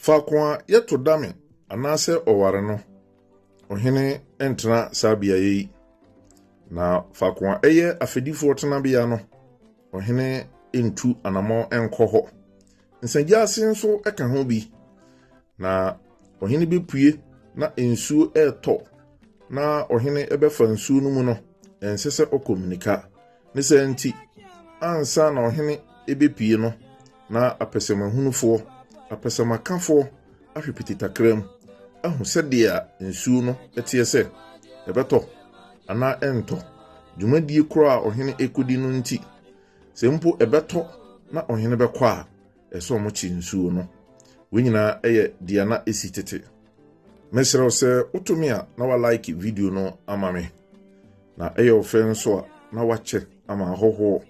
Faako a yɛto dame anaasɛ ɔware no, ɔhene ntena saa beaeɛ yi, na faako a ɛyɛ afɛdifoɔ tenabea no, ɔhene ntu anamɔ nkɔ hɔ. Nsagyaase nso ka ho bi, na ɔhene bɛpue na nsuo retɔ na ɔhene bɛfa nsuo no mu no, ɛnsɛ sɛ ɔkɔ mmirika. Ne saa nti, ansa na ɔhene bɛpue no, Na apɛsɛmahunufoɔ, apɛsɛmakafoɔ, ahwe piti takram, ahu sɛdeɛ nsuo no teɛ sɛ ɛbɛtɔ anaa ɛntɔ, dwumadie korɔ a ɔhene rekɔdi no nti, sɛ mpo ɛbɛtɔ na ɔhene bɛkɔ a, ɛsɛ sɛ wɔkye nsuo no. Wei nyinaa yɛ deɛ na ɛsi tete. Mesrɛ wo sɛ wotumi a na wa like video no ama me. Na ɛyɛ ɔfɛ nso a, na wakyɛ ama ahɔhoɔ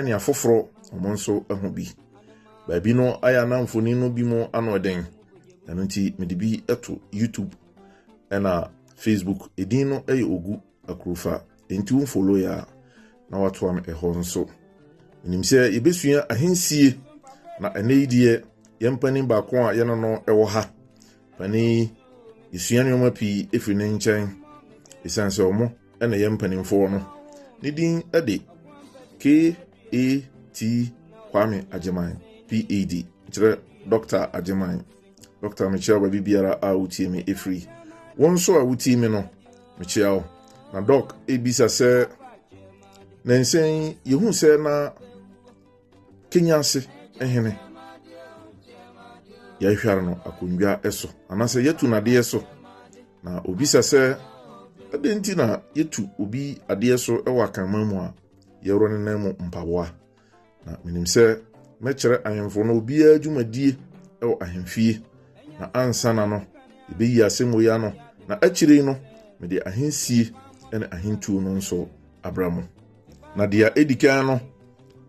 ne afoforɔ wɔn nso ahu bi. Baabi no ayɛ a na mfoni no bi mu ano den, ɛno nti mede bi to YouTube ɛna Facebook. Edin no yɛ Ogu Akurufa, enti wo follow yɛ a na watoa me ɛhɔ nso. Menim sɛ yɛbɛsua ahensie, na ɛnɛ yi deɛ yɛn panin baako a yɛne no wɔ ha Panin yi, yɛsua nneɛma pii firi ne nkyɛn ɛsiane sɛ ɔmo na ɛyɛ mpanimfoɔ no. Ne din de KAT Kwame Agyeman, PAD, kyerɛ Dɔkta Agyeman. Dɔkta mekyia baabi biara a wotie me ɛfiri. Wo nso a wotie me no, mekyia wo. Na dɔk ebisa sɛ, ne nsɛn yi, yɛhu sɛ na Kenya ase hene, yɛahware no akonnwa so anaasɛ yɛatu no adeɛ so na obisa sɛ ɛdɛn nti na yɛtu obi adeɛ so wɔ akanman mu a yɛworɔ ne nan mu mpaboa na menim sɛ mɛkyerɛ ahemfo no obiara dwumadie wɔ ahemfie na ansa na no yɛbɛyi asɛm wei ano na akyire no mede ahensie ne ahentuo no nso abra mu Na deɛ ɛdi kan no,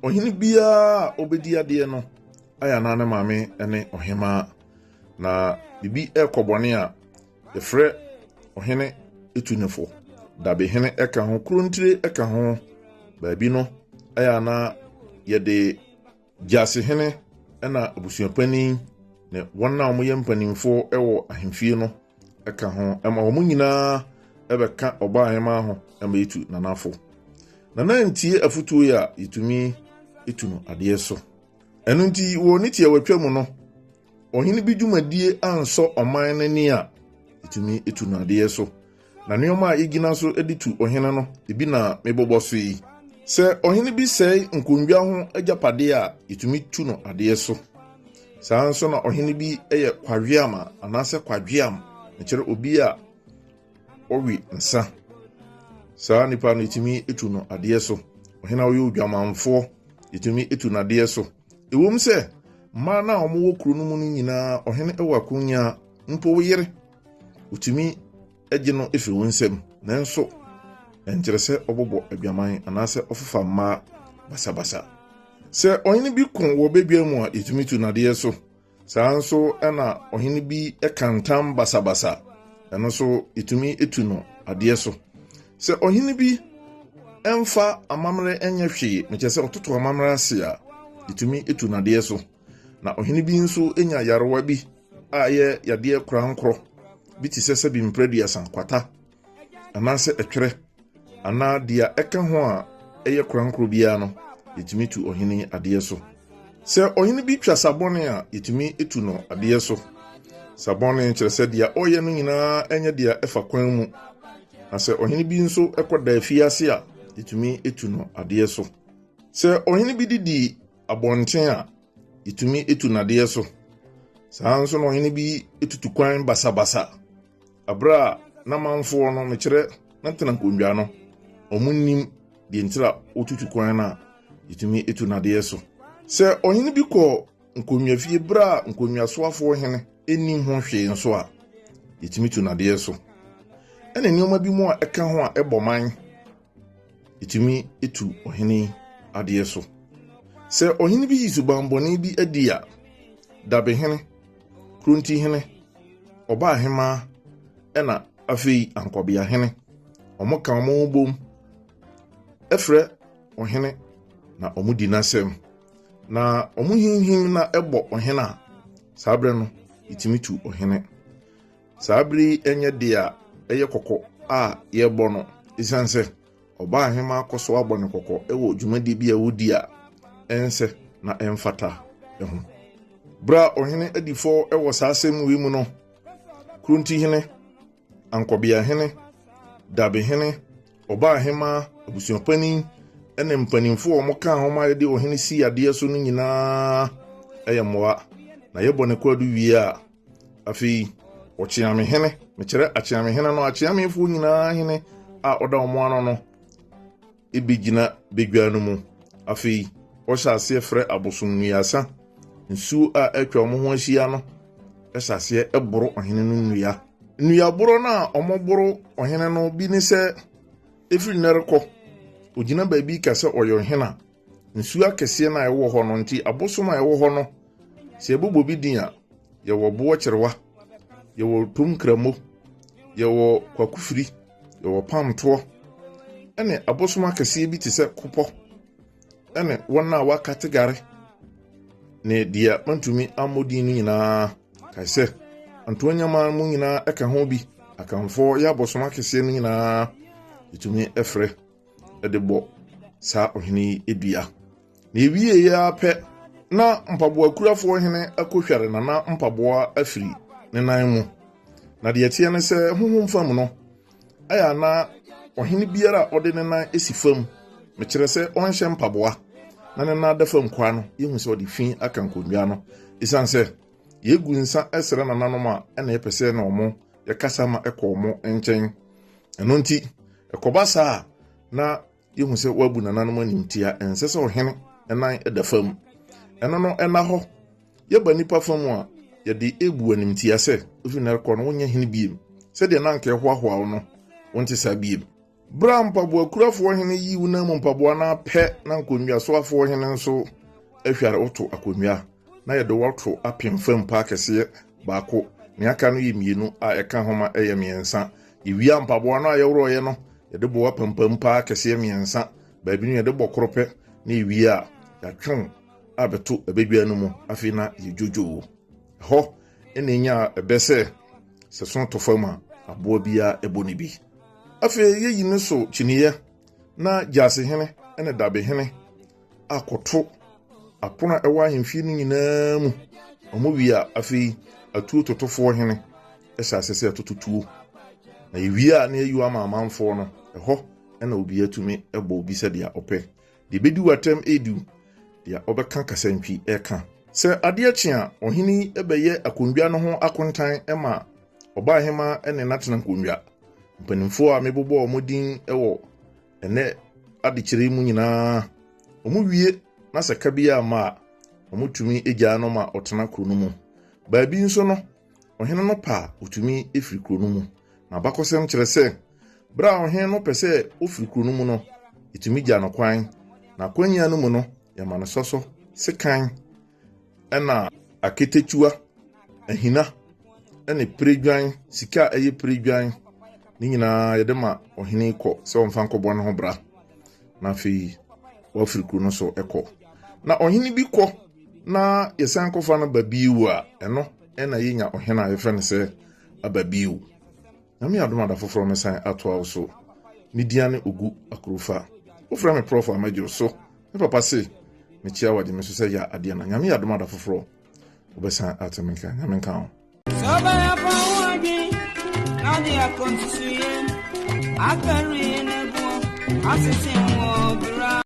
ɔhene biara a ɔbɛdi adeɛ no ayɛ anaa ne maame ne ɔhemaa. Na biribi ɛrekɔ bɔne a, yɛfrɛ ɔhene etunifo, dabehene ɛka ho, kurontire ɛka ho. Baabi no ayɛ anaa yɛde Gyasihene na abusuapanin ne wɔn a wɔyɛ mpanimfoɔ wɔ ahemfie no ka ho ma wɔn nyinaa ɛbɛka ɔbaa ahema ho ma yɛtu nanafo nana ntie afotuo yi a yɛtumi tu no adeɛ so ɛno nti wɔ ne tiawatwa mu no Ɔhene bi dwumadie ansɔ ɔman no ani a, ɛtumi tu no adeɛ so. Na nneɛma a yɛgyina so de tu ɔhene no, ebi na mebobɔ so yi. Sɛ ɔhene bi sɛe nkondwa ho agyapadeɛ a, yɛtumi tu no adeɛ so. Saa nso na ɔhene bi yɛ kwaweam a, anaasɛ kwaweam, ɛkyerɛ obi a ɔwe nsa. Saa nipa no yɛtumi tu no adeɛ so. Ɔhene a ɔyɛ odwamanfoɔ, yɛtumi tu no adeɛ so. Ɛwom sɛ mmaa no a wɔwɔ kuro no mu no nyinaa, ɔhene wɔ akonya mpo wo yere, wotumi gye no fi wo nsam, nanso ɛnkyerɛ sɛ ɔbɔbɔ adwaman anaasɛ ɔfofa mmaa basabasa. Sɛ ɔhene bi ko wɔ badwa mu a, yɛtumi tu nadeɛ so. Saa ara nso na ɔhene bi ka ntam basabasa, ɛno nso yɛtumi tu no adeɛ so. Sɛ ɔhene bi mfa amammerɛ nyɛ hwee, mekyɛ sɛ ɔtoto amammerɛ ase a, yɛtumi tu no adeɛ so. Na ɔhene bi nso nya yarewa bi a ɛyɛ yadeɛ korankorɔ bi te sɛ sɛbi mprɛduasa, kwata, anaasɛ ɛtwerɛ anaa deɛ ɛka ho a ɛyɛ korankoro biara no, yɛtumi tu ɔhene adeɛ so. Sɛ ɔhene bi twa sabɔne a, yɛtumi tu no adeɛ so. Sabɔne kyerɛ sɛ deɛ ɔyɛ no nyinaa ɛnyɛ deɛ ɛfa kwan mu. Na sɛ ɔhene bi nso ɛkɔ da afie ase a, yɛtumi tu no adeɛ so. Sɛ ɔhene bi didi abɔnten a, yɛtumi tu no adeɛ so. Saa nso na ɔhene bi tutu kwan basabasa. Bere a n'amanfoɔ no, mekyerɛ, na tena nkonnwa no, wɔnnim deɛ nti a wotutu kwan no a yɛtumi tu no adeɛ so. Sɛ ɔhene bi kɔ nkonnwafie bere a nkonnwasoafoɔ hene nnim ho hwee nso a, yɛtumi tu no adeɛ so. Ɛne nneɛma bi mu a ɛka ho a ɛbɔ man. ɛtumi tu ɔhene adeɛ so sɛ ɔhene bi yi subanbɔne bi adi a dabehene krontihene ɔbaa hemaa ɛna afei ankɔbea hene ɔmo ka ɔmo bom ɛfrɛ ɔhene na ɔmo di n'asɛm na ɔmo hinhim na ɛbɔ ɔhene a saa berɛ no ɛtumi tu ɔhene Saa bere yi nyɛ de a ɛyɛ kɔkɔ a yɛbɔ no esiane sɛ ɔbaa hema akɔ so abɔ ne kɔkɔ wɔ dwumadi bi a wodi a ɛnsɛ na ɛmfata ho. Bere a ɔhene adi fɔ wɔ saa asɛm wei mu no, Kurontihene, Ankɔbeahene, Dabehene, ɔbaa hema, abusuapanin, ne mpanimfo a wɔkaa ho ma yɛde ɔhene sii adeɛ so no nyinaa yɛ mmoa, na yɛbɔ ne kwaadu wie a, Afei, ɔkyeame hene, mekyerɛ akyeame hene no, akyeamefoɔ nyinaa hene a ɔda wɔn ano no bɛgyina badwa no mu. Afei, ɔhyɛ aseɛ frɛ abosom nnuasa, nsuo a atwa wɔn ho ahyia no hyɛ aseɛ boro ɔhene no nnua. Nnuaboro no a wɔboro ɔhene no bi ne sɛ, ɛfiri nnɛ rekɔ, ɔgyina baabi ka sɛ ɔyɛ ɔhene a, Nsuo akɛseɛ no a ɛwɔ hɔ no nti abosom a ɛwɔ hɔ no sɛ yɛbobɔ bi din a yɛwɔ boɔ kyerewa yɛwɔ tom kramo yɛwɔ kwakofiri yɛwɔ pamtoɔ ɛne abosom akɛseɛ bi te sɛ kopɔ ɛne wɔn a wɔaka tegare ne deɛ mantumi ammɔ din no nyinaa kae sɛ ntoa nyama mu nyinaa ɛka ho bi akanfoɔ yɛ abosom akɛseɛ no nyinaa ɛtumi ɛfrɛ de bɔ saa ɔhene yi dua. Na ewiee yi ara pɛ, na mpaboakurafo ɔhene akohware na na mpaboa afiri ne nan mu. Na deɛ ɛteɛ ne sɛ honhom fam no, ɛyɛ a na ɔhene biara a ɔde ne nan si fam, mekyerɛ sɛ ɔnhyɛ mpaboa, na ne nan da fam kwaa no, yɛhu sɛ ɔde fi aka nkonnwa no. Esiane sɛ yɛgu nsa srɛ nananom a, ɛna yɛpɛ sɛ na wɔn yɛkasa ma ɛkɔ wɔn nkyɛn ɛno nti ɛkɔba saa a na yɛhu sɛ wɔabu nananom animtia ɛnsɛ sɛ ɔhene nan da fam ɛno no ɛna hɔ yɛba nnipa fa mu a yɛde ebu animtia sɛ ofi na ɛkɔ no wonyɛ hene biem sɛdeɛ na anka ɛhoahoa wo no wonte saa biem Bere a mpaboakurafo ɔhene yi wo nan mu mpaboa no apɛ na nkonnwasoafo ɔhene nso ahware woto akonnwa na yɛde woato apem fam paa kɛseɛ baako ne aka no yɛ mmienu a ɛka ho ma ɛyɛ mmiɛnsa yɛwia mpaboa no a yɛworɔeɛ no yɛde bɔ apampam paa kɛseɛ mmiɛnsa baabi no yɛde bɔ koro pɛ na yɛwie a yɛatwew a bɛto abadwa no mu afei na yɛdwodwoo ɛhɔ ɛna ɛnya ɛbɛ sɛ sɛ so to fam a aboa biara ɛbɔ ne bi afei yeyi ne so kyiniiɛ na gyasehene ne dabehene akɔto apono a ɛwɔ ahemfie no nyinaa mu wɔn wie a afei atuo totofoɔ hene hyɛ ase sɛ ɛtototuo na yɛwie a na yɛyi ama amanfoɔ no ɛhɔ na obi atumi bɔ obi sɛdeɛ ɔpɛ Deɛ ɛbɛdi w'atɛm redu, deɛ ɔbɛka kasantwi reka. Sɛ adeɛ kye a, ɔhene yi bɛyɛ akonnwa no ho akontan ma ɔbaahemaa ne n'atena nkonnwa. Mpanimfoɔ a mebobɔ wɔn din wɔ ɛnɛ adekyerɛ yi mu nyinaa, wɔwie na sɛ ka biara mma a, wɔtumi gyaa no ma ɔtena kuro no mu. Baabi nso no, ɔhene no pɛ a, ɔtumi firi kuro no mu. N'abakɔsɛm kyerɛ sɛ, Bere a ɔhene no pɛ sɛ ofi kurow no mu no, etumi gya no kwan. N'akwannya no mu no, yɛma no sɔsɔ, sekan, ɛna akatakyiwa, ahina, ne piredwan, sika a ɛyɛ piredwan. Ne nyinaa yɛde ma ɔhene kɔ sɛ ɔmfa nkɔbɔ ne ho bra. Na afei wafiri kurow no so kɔ. Na ɔhene bi kɔ na yɛsan kɔfa no ba bio a, ɛno na yenya ɔhene a yɛfrɛ no sɛ aba bio. Nyame adom a da foforɔ mɛsan atoa wo so Me dia ne Ogu Akurufa Wo frɛ me prɔfo a mɛgye wo so Me papa se me kyia wagye me so sɛ ya adeɛ na Nyame adom a da foforɔ wo bɛsan ate me nka Nyame nka wo. Sɛ ɔbɛyɛ fa ho adwen na de akɔ nsusuiɛ akari ne boɔ asese wɔ bra.